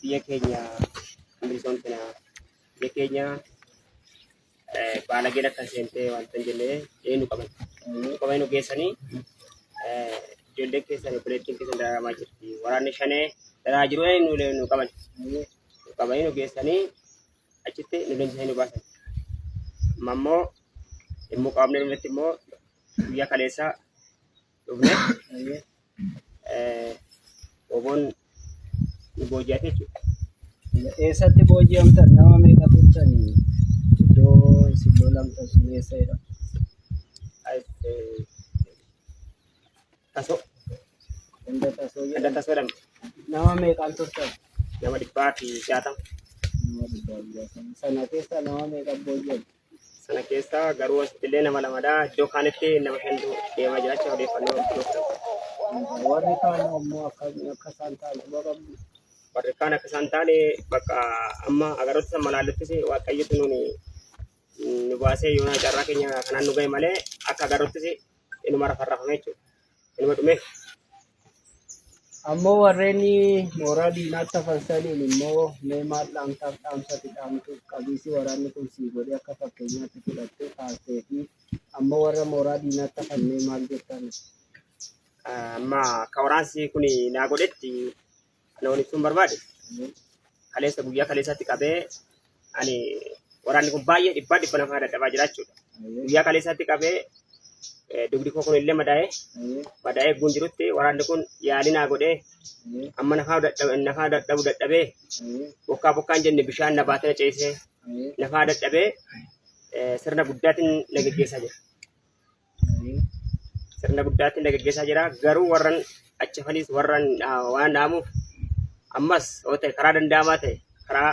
biyya keenya bilisoomsina biyya keenya eh, baalageen akka seentee wanta hin jenne eenu qaban nu qaban nu geessanii eh, ijoolleen keessan obboleettiin keessan dararamaa jirti waraanni shanee daraa jiru eenu nu nu qaban nu qaban nu geessanii achitti nu leenjisanii nu baasan amma immoo immoo qaamni irratti immoo guyyaa kaleessaa dhufne oboon nu booji'ate jechuudha. Eessatti booji'amtan nama meeqa turtan iddoo isin loolamtan sun eessa jedhama? Tasoo Ganda tasoo ganda jedhama. tasoo jedhama. Nama meeqaan turtan? Nama dhibbaa fi jaatama. Nama dhibbaa fi jaatama. Sana keessa nama meeqa booji'amtan? Sana keessa garuu asitti illee nama lamadha. Iddoo kaanitti nama shantu deemaa jira jecha odeeffannoo iddoo kana. Warri kaan ammoo akka akka isaan ta'an quba qabdu. Warri kaan akka isaan taane bakka amma agaroota san malaaluttis waaqayyotu nuuni nu baasee yoona carraa keenya kanaan nu ga'e malee akka agaroottis inuma rafarrafame jechuudha. Kanuma dhumee. Ammoo warreen mooraa diinaatti hafan saniin immoo mee maal dhaamtaaf dhaamsati dhaamtu qabiisi waraanni kun sii godhee akka fakkeenyaatti fudhattee kaastee fi ammoo warra mooraa diinaatti hafan mee maal jettan? Amma akka waraansi kun naa godhetti Kana waliin ibsuun barbaade kaleessa guyyaa kaleessaatti qabee ani waraanni kun baay'ee dhibbaa dhibba namaa dadhabaa jira jechuudha. Guyyaa kaleessaatti qabee eh, dugdi koo kun illee madaa'ee madaa'ee eegguun jirutti waraanni kun yaalii naa godhee amma nafaa dadhabe- nafaa dadhabu dadhabee bokkaa bokkaan jenne bishaan na baatee na ceesee nafaa dadhabee eh, sirna guddaatiin na geggeessaa jira. sirna guddaatti na gaggeessaa jira. Garuu warran achi hafaniis warran ah, waan dhaamuuf ammas yoo ta'e karaa danda'amaa ta'e karaa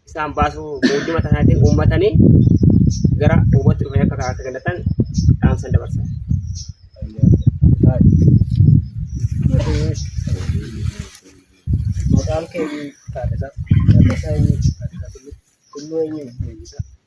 isaan baasuu mootummaa tanaatiin uummatanii gara uumatti dhufanii akka karaa kennatan dhaamsan dabarsa. Maqaan keenya Taaddasaa Taaddasaa eenyu Taaddasaa Tulluu Tulluu eenyu Leenjisaa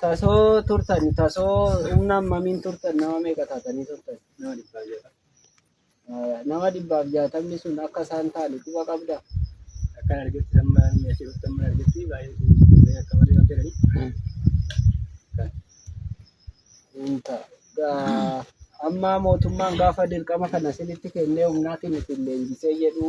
Tasoo turtani tasoo humna hammamiin turtan nama meeqa taatanii turtan? Nama dhibbaa jira. Eh, Nama dhibbaaf jaatamni sun akka isaan ta'an quba qabda. Akkan argetti amma inni asii dhuftan mana argetti baay'ee kun baay'ee akka malee waan ta'eef. Kan Hin ta'a. Gaa- Amma mootummaan gaafa dirqama kana isinitti kennee humnaatiin isin leenjisee jedhu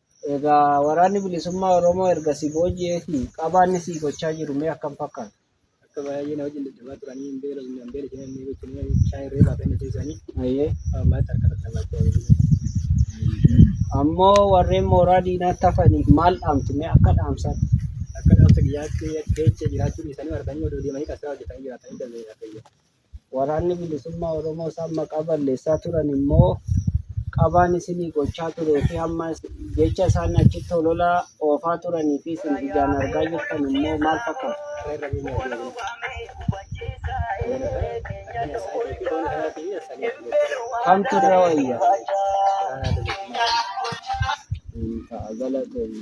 Egaa waraanni bilisummaa Oromoo erga si booji'eetii qabaa inni sii gochaa jiru mee akkam fakkaata? Akka baay'ee na wajjin dadhabaa turanii hin beela hin beela isheen hin beela isheen bishaan irree baafee na teessanii Ayyee. ammaatti harka irratti na baachaa jiru. Ammoo warreen mooraa diinaatti hafaniif maal dhaamtu mee akka dhaamsaatti? Akka dhaamsa biyyaatti jecha jiraachuun isaanii arganii odoo deemanii qabsaa hojjetanii jiraatanii dabeera. Waraanni Bilisummaa Oromoo isaan maqaa balleessaa turan immoo qabaan isinii gochaa turee fi amma jecha isaan achitti holola oofaa turanii fi isin ijaan argaa jirtan immoo maal fakkaata? Kamtu irra wayya? Ta'a galatoomi.